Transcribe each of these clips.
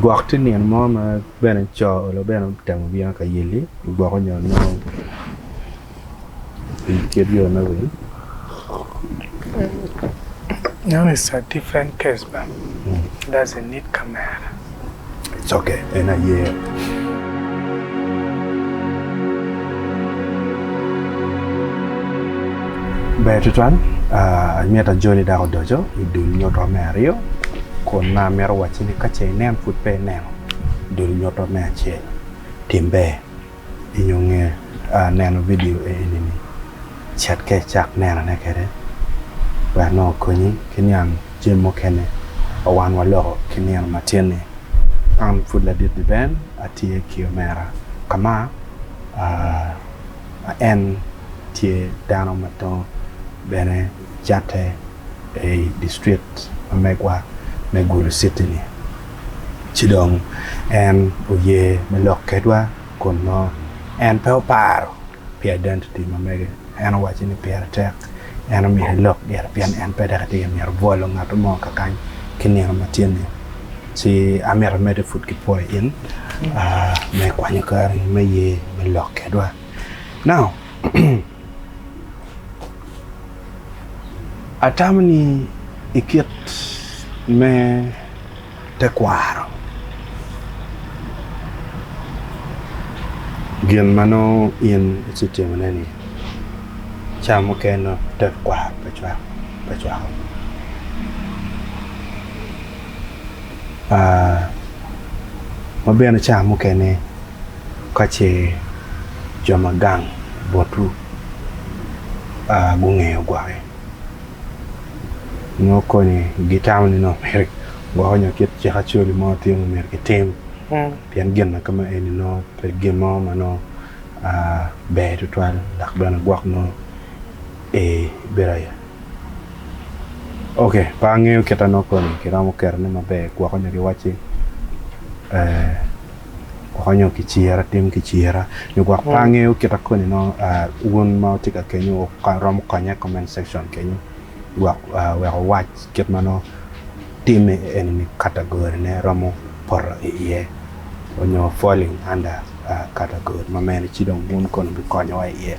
Gwok tye nino mo ma bene co olo bene otemo bino ka yelli gwoko nyo nongo i kit yo me wil Ber tutwal, mita joni dok odoco i dul nyuto me aryo, kun ma amito wacci ni ka ce inen pud pe ineno dul nyuto me acel, tim ber inyo nge neno vidio eni ni, cet ka icak nenone kede wek nongo okonyi ki niang jami mukene ma wan waloko ki nino matin-ni. An pud ladit ni Ben, atye ki omera ka ma. ma en tye dano ma tongo bene catte i distrik ma megwa me Gulu City-ni. Ci dong en oye me lok kedwa kun nongo en pe oparo pi identity ma mege. En owaco ni pire tek lok. En omito elok gire pien en pe dok etye ka myero bwolo ngat mo kakany ki nino ma tye ni. Ci amito amedde pud ki pwoyo in me kwanyo kari me ye me lok kedwa. Now atamo ni ikit me tekwaro. Gin ma nongo in icitimone-ni, ca mukene tekwaro pe cwako. Ma bene ca mukene ka ce jo ma gang botu gungeyo gwoki. nongo koni gitamo ni nongo myero gwoko nyo kit cik acoli mo tye ma myero kitim pien gin ma kama eni nongo pe gin mo ma nongo ber tutwal dok bene gwok nongo bedo aye ok pe angeyo kita nongo koni kiromo ketone maber gwoko nyo kiwacci konyo ki cira, tim ki cira nyo gwok pe angeyo kita koni nongo wun ma wutye ka kenyo wuromo konya i comment section kenyo gwok wek wuwac kit ma nongo tim eni category ne romo poto i iye nyo falling under category ma mene ci dong wun koni wubikonyowa i iye.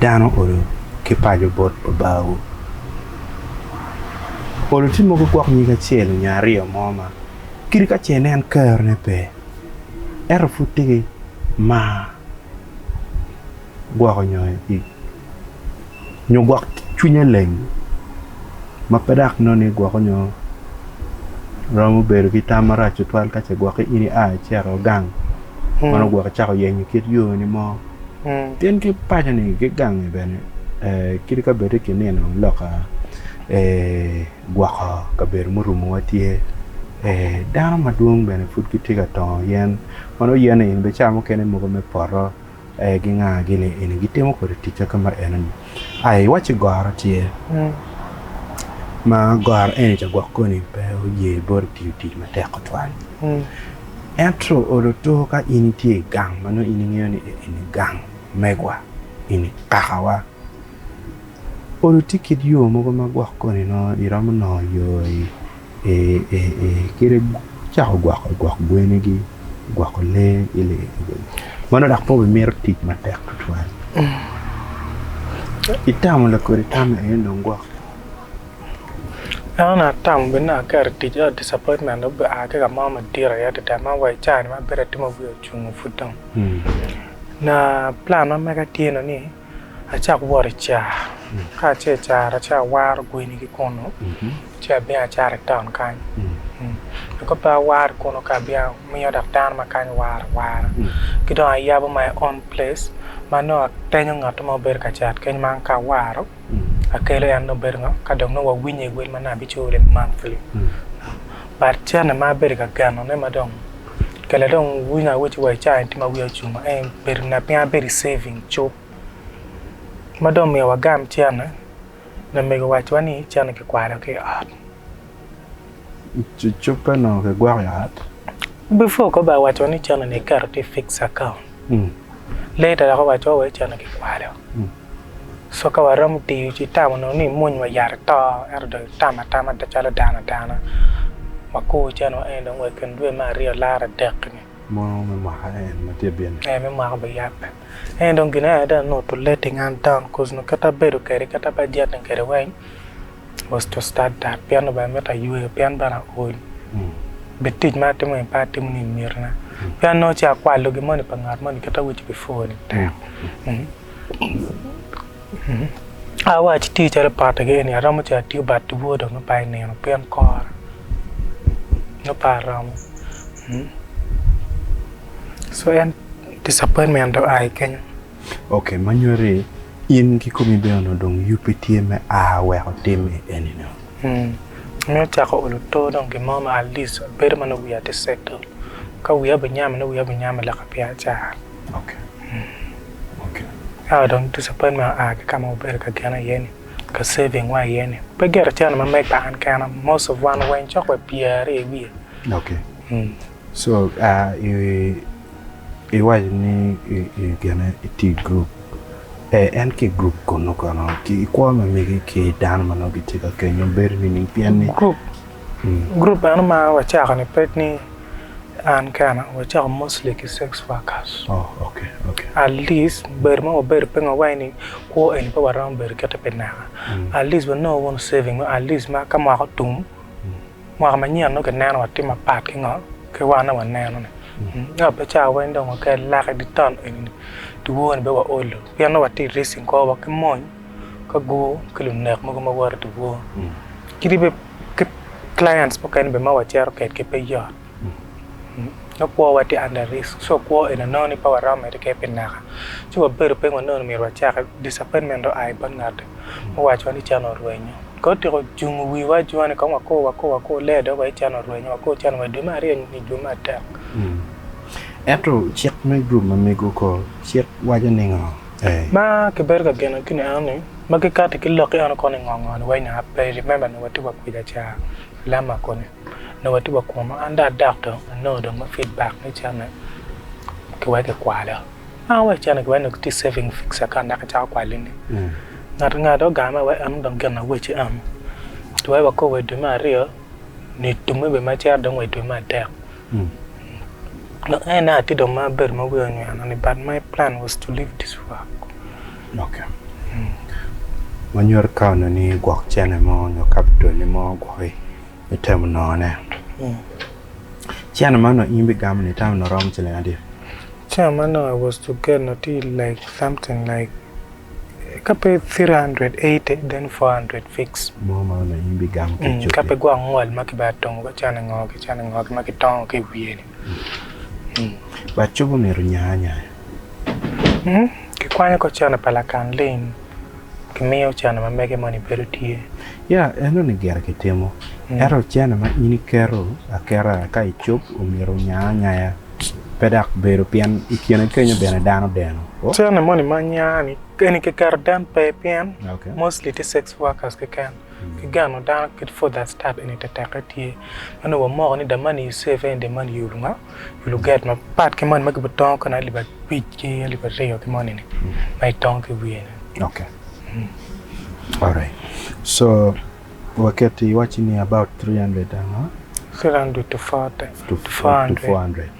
Dano odo ki paco bot Babawu. Polo tye mogo gwok nyig acel nyo aryo mo ma kadi ka ce nen kerone pe ento pud tye ki mar gwoko nyo nyo gwok cwinye leng ma pe dok nonei gwoko nyo romo bedo ki tam marac tutwal ka ce gwoki in ia icito gang meno gwoki cako yenyo kit yoni mo tin ki paconi ki gangi bene kadi ka bedi ki nino loka gwoko kabedo murumowa tye dano madwong bene pud gitye ka tongo yen ma nongo yene in bicamo kene mogo me poto. Ee, ginga gini eni, gitimo kwede ticca ka ma eno-ni. Ai, iwacci goro tye, ma goro eni ca gwok koni pe oye boti tiyo tic matek tutwal. Ento oloto ka in itye i gang ma nongo in ingeyo ni eni gang megwa, eni kakawa, olotti kit yo mogo ma gwok koni nongo iromo nongo yo-i kede cako gwoko gwok gwenigi, gwoko lee ki lee meno dok pe wimito tic matek tutwal itamo lakodi tam eni dong gwok. An atamo bed ni aketo tic ento disappointment dong obea ki kamo madit aye adada ma wa i cawa ni ma abedo atimo wiya ocungo pud dong plan ma mega tye ni Acak wot i ca, ka ace i caro ace awaro gweni ki kunu ci abino acato i taun kany. Dok ka pe awaro kunu ka abino amiyo dok dano ma kany waro awara. Ki dong ayabo my own place ma nongo atenyo ngat mo bedo ka cat keny ma an ka awaro akelo en nongo bedo ngo ka dong nongo wawinye i wel ma nongo abiculo monthly but cene ma abedo ka genone ma dong kele dong wi ngat awic wa i cawa eni tye ma wiya ocung ma en bedo ngat ma bedo i civing cuk ma dong omiyo wagam cene lamego owacowa ni cene kikwaro ki i ot. Cukke onongo kigwoko i ot? Before kong ba waco ni cene ni iketo tye i fixed account. Lee ta dok owaco wa eceno ki kwalo. So ka waromo tiyo ci itamo nongo ni imony wa yat ito ento dong itamo atama calo dano adana wakur eceno wa eni dong wa ikin dwe me aryo laro adek ni. Mono me mwaka en ma tye bino. Ee me mwaka obin yat bene. Ento dong gin aye dong anutu lee tinga an taun koz nongo kit abedo kede kit abajete kede weng. was to start that pien ni bene mito ayweyo pien bene aol bed tic ma atimo ni pe atimo ni myero na pien nongo ci akwalo gin moni pa ngat moni kit ma awaco before ni tek otherwise ci tye calo pote gi eni aromo cito atiyo but two o dong me par i nino pien kora me par romo so en disappointment dong aa i kenyo. Ok ma nyuti in ki komi bene onongo dong yub pe tye me a wek otim i eni nio. Mm. Meno cako olo to dong gin mo ma alic bedo ma nongo wiya tye settle. Ka wiya obinyamo nongo wiya obinyamo leka pi acar. Ok. Ok. Ento dong disappointment oa ki ka ma wabedo ka geno iye ni, ka saving wa iye ni. Pe gire cen ma meg pa an kena, most of wan weng cok wa pyere i wiye. Ok. Mm. So, ah, i. Iwaco ni gene itye i gurup, ee en ki i gurup kunu kono ki i kwo me megi ki dano ma nongo gitye ka kenyo bedo nining pien ni gurup meno ma wacako ni pe ni an kena wacako mostly ki sex workers at least bedo ma wabedo pingo awaci ni kwo eni pe waromo bedo kite pi naka at least wanongo wunu saving mo at least ma ka mwaka otum Mwaka manyen nongo kineno wa tye mapat ki ngo ki wan aye waneno ni ngat pe cawa weng dong wakel lak idi taun eni dyewor ni be wa olo pien nongo watye racing kor wa ki mony ka gur ki lunek mogo ma woto idye wor kadi bed ki clients mukene bene ma wacito kwedgi pe yot. nongo kwowa tye under risk so kwo eni onongo ni pe waromo mere keken pi naka ci wabedo piny wa nongo ni myero wacak disappointment dong oa i bot ngat-ti ma owacowa ni cene orwenyo ka otyeko jungo wiwa ajunga ni kong wako wako wako lee dong waci cene orwenyo wako cene orwenyo dwe me aryo nyo dwe me adek. Ento cik me gurup ma mego ko cik waco ningo? Ma kibedo ka geno gini enoni ma kikati ki lok-ki eno koni ngo ngo ni weny aa pe i remember nongo watye wa kwica ca Lama koni. nongo watye wa kunu an dong adok tung anongo dong ma feed back me cente ki weko ikwalo naka weko cente ki weko nongo gitye saving fixed account dok icako kwali ni ngat ki ngat dong ogang ma iweko eno dong gin ma wacci eno ci weko wakob wa idwe me aryo nyo itum me dwe ma cito dong wa idwe me adek dong en aye atye dong ma abedo ma wiya onyweno ni but my plan was to leave this work ok ma nyuto ikaone ni gwok cene mo nyo capital-li mo gwoki. me temo nongone. Cene man in bigamo ni tam ni rom ciling adi? Cene man no I was to get no tye like something like ka pe 380 then 400 fix. Mo ma onongo in bigamo ki coki. Ka pe gwok ngol ma ki bene tongo ka cene ngo ki cene ngo ki ma ki tongo ki i wiye ni. But cobi omyero nya anya. Ki kwanyo ko cene pa lakan lim. Kimiyo ocene ma mege moni bedo tye. Ya, enoni gire kitimo. Ento ocene ma in iketo aketa ka icup omyero onya anyaya, pe dok bedo pien i kine kenyo bene dano odeno. O. Ocene moni ma nya ni, eni kiketo den pe pien mostly tye sex workers keken. Ki geno dano kit for that start eni teteke tye. Meno wa moko ni the money you save earn the money you will nga. i luget mapat ki moni ma kibene tongo kwede alip abic ki alip aryo ki moni ni ma itongo ki iwiye ni. Okay. Alright. So waketo iwacci ni about 300 and what? 300 to 40 to, to 400. 400.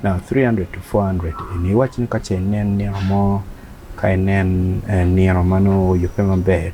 Now 300 to 400 eni iwacci ni ka ce inen nino mo ka inen eh, nino ma nongo oyubbe maber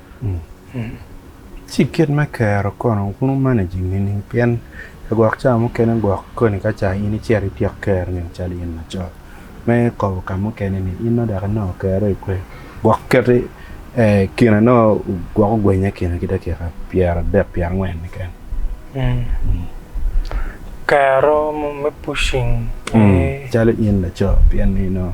Ci kit me kero kono kun wu managing nining pien ka gwok ca mukene gwok koni ka ca in icito ityek kero nino calo in laco me kobo ka mukene ni in nongo dok inongo kero i kwe gwok keti kine nongo gwok ogwenye kine ki dakika pyera adek pyera angwen keken. Kero me pushing calo in laco pien ni nongo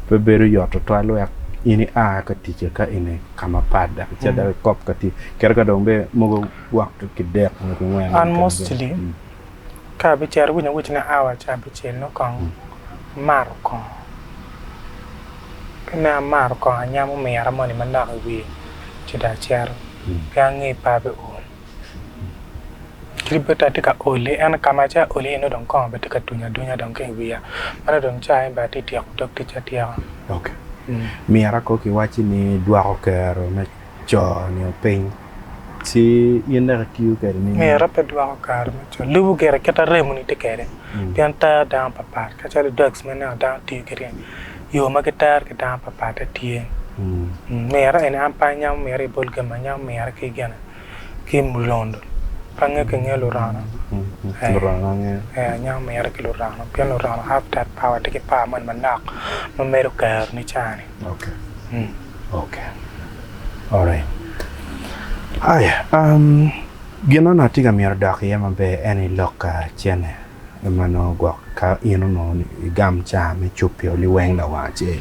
pe bedo yot tutwal wek in ia ka tic aka ini ka mapat dok icit dok ikop ka tye kadi ka dong bene mogo gwok ki dek nyo ki ngwen. An mostly ka abicito winya wic ni hour ca abicel nongo kong amato kong ka nongo amato kong anyamo omira moni manok i wiye ci dong acito pe ange par pe ool. Libota atye ka oli ento kama atye ka oli iye nongo dong kongo bene tye ka tunya adunya dong ki iwiya meno dong cawa ni bene atye ka tyeko dog ticca atyeka. Ok myero akor ki wacci ni dwoko kero me co nio piny ci in dok itiyo kwede ni. Myero pe dwoko kare me co lubo gire kit ma remoni tye kwede pien ter dano pat pat kacalo drugs ma ineno dano tiyo kwede ni Yo ma gitero ki dano papatte tye. Mira eni an pe anyamo mira i bol gem, anyamo mira ki gene ki mulondo, pe ange ki nge lurono. Lurono ange. Ee anyamo mira ki lurono pien lurono have that power tye ki power moni manok ma medo kero ni ca ni. Okay. Okay. Alright. Aya, gin na atye ka mito dok iye maber eni lok ka cene. en ma nongo gwok ka in onongo ni igam ca me cub pi oli weng lawang acel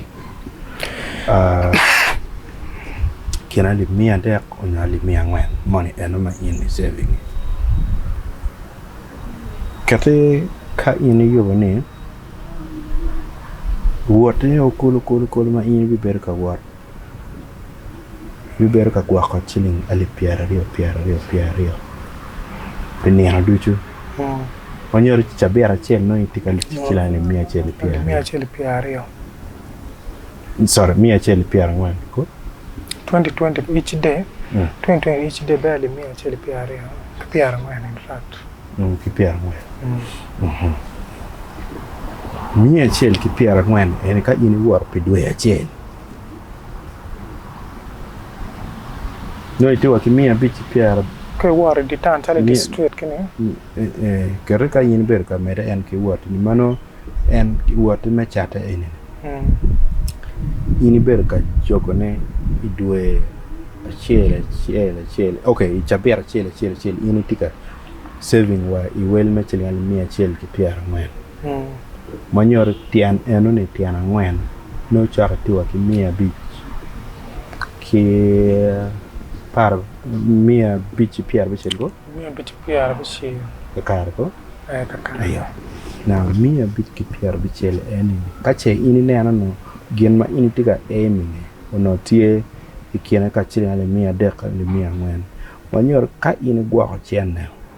kine alip miya adek onyo alip miya angwen moni eno ma in i saving-ngi kiti ka in iyubo ni wotte o kulu kulu kulu ma in ibibedo ka wot bibedo ka gwoko ciling alip pyeraryo pyeraryo pyeraryo pi nino ducu ma nyuto ni cabit acel nongo itye ka tic ki ciling alip miya acel ki pyeraryo sorry miya acel ki pyerangwen ki pyerangwen miya acel ki pyerangwen eni ka in iwoto pi dwe acel. Nongo itye wa ki miya abic ki pyera. Ka iwot i dye taun calo i district kini. Kete ka in ibedo ka mede en ki wot ni ma nongo en wotti me catte eni in ibedo ka cokone i dwe acel acel acel ok i cabit acel acel acel in itye ka saving wa i wel me ciling alip miya acel ki pyera angwen ma nyuto tyen eno ni tyen angwen. nongo ocako i tika ki miya abic ki miya abic ki pyera abicel kong miya abic ki pyera abicel kakare kong miya abic ki pyera abicel eni ka ce in ineno ni gin ma in itye ka aim-mi onongo tye i kine ka ciling alip miya adek ki alip miya angwen ma nyuto ka in igwoko cente.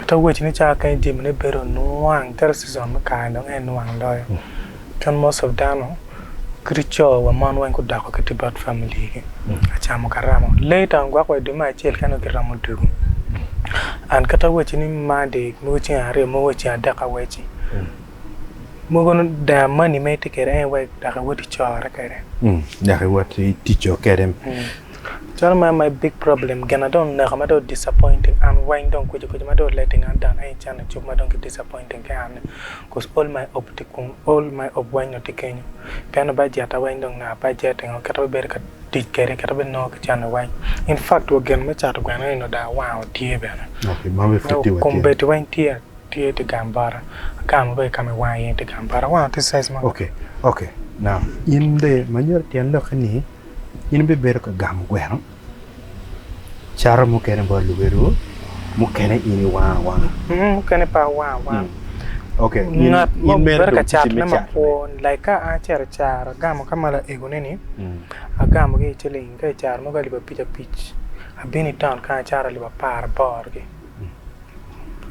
Atwero wacci ni cawa kany jami ne bedo nwang tere season me kare dong aye nwang loyo kit most of dano kadi co wa mon weng gudoko ki to bad family gi kacamo ka remo later on gwok wa idwe me acel kene ki remo dugu and kit atwero wacci ni monday mogo ceng aryo mogo ceng adek awacci mogo ni the money ma itye kwede en aye wek dok iwot icore kwede. Dok iwot itico kwede. Calo ma en my big problem gina dong oneka ma dong o disappointing an weng dong kwici kwici ma dong o letting an down any cen icuk ma dong ki disappointing ki an ni cause all my hope tye kunu all my hope weng dong tye kenyo pienni bajetta weng dong naka bajet engo kit ma abibedo ka tic kwede kit ma abinongo ki cente weng infact wa gin me cato gweno ni onongo dong awanga tye bene nyo kombeddi weng tye tye tye gang bota akano dong i ka ma i wanga iye ni tye gang bota awanga tye size ma. Okay okay now in dong imanyori tyen lokke ni In ibibedo ka gamo gweno cato mukene bot luelwu, mukene in iwango awanga? Ung, mukene pe awango awanga. Ok, in Ngat mo in mere bedo ka dong ticci me catone cat. makwo, like ka an acito acaro, agamo ka ma laego-ni-ni, Mm. agamogi i ciling ka i caro mogo alip abic abic, abino i taun kany acato alip apar aboro-gi.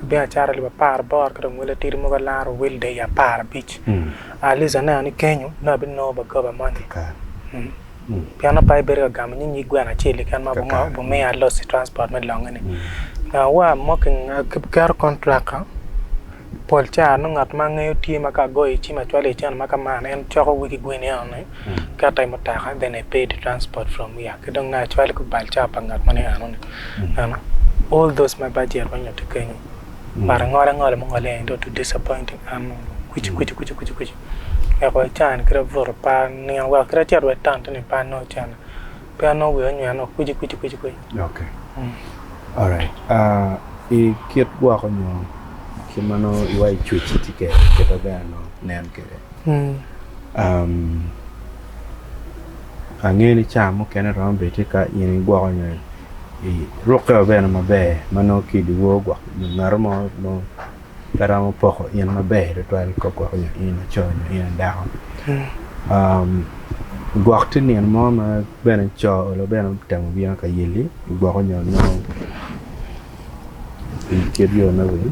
Abino acato alip apar aboro ki dong wel atidi mogo alaro wel deyo apar abic. Ah, at least aneno ni kenyo nongo abinongo ba goba moni. Pien nongo pe abibedo ka gamo nying nyig gweno acel keken ma Kakare. obingo- obimiya loss transport me longe-ni. Ah, wa moki, aketo contract-ta. Pol ca nongo ngat ma angeyo tye ma ka agoyo cim acwalo i cen ma ka man en coko wiki gweni eno ni keta i mutoka then I pay the transport from here ki dong nongo acwalo ki balca pa ngat moni eno ni eno all those my budget ma nyutti kenyo but angolo angola ma ongole eni dong to disappointing and kucu kucu kucu kucu kucu wek wa can kit abuto par nino wek kit acit wa i town to nipar nongo cene pe anongo wiya onywene o kwici kwici kwici kwici. Ok. Mm. Alright. Uh, i kit gwoko nyo kit ma nongo iwa icwec iti kede kit ma bene nongo nen kede. Mm. Um, angeyo ni caa mukene romo bedi ti ka in igwoko nyo i rukke wa bene maber ma nongo kidi wor gwok nyo ngato mo nongo pe romo poko in maber tutwal ka gwoko nyo in laco nyo in dako gwok tye nino mo ma bene co olo bene otemo bino ka yelli gwoko nyo nongo i kit yo me wil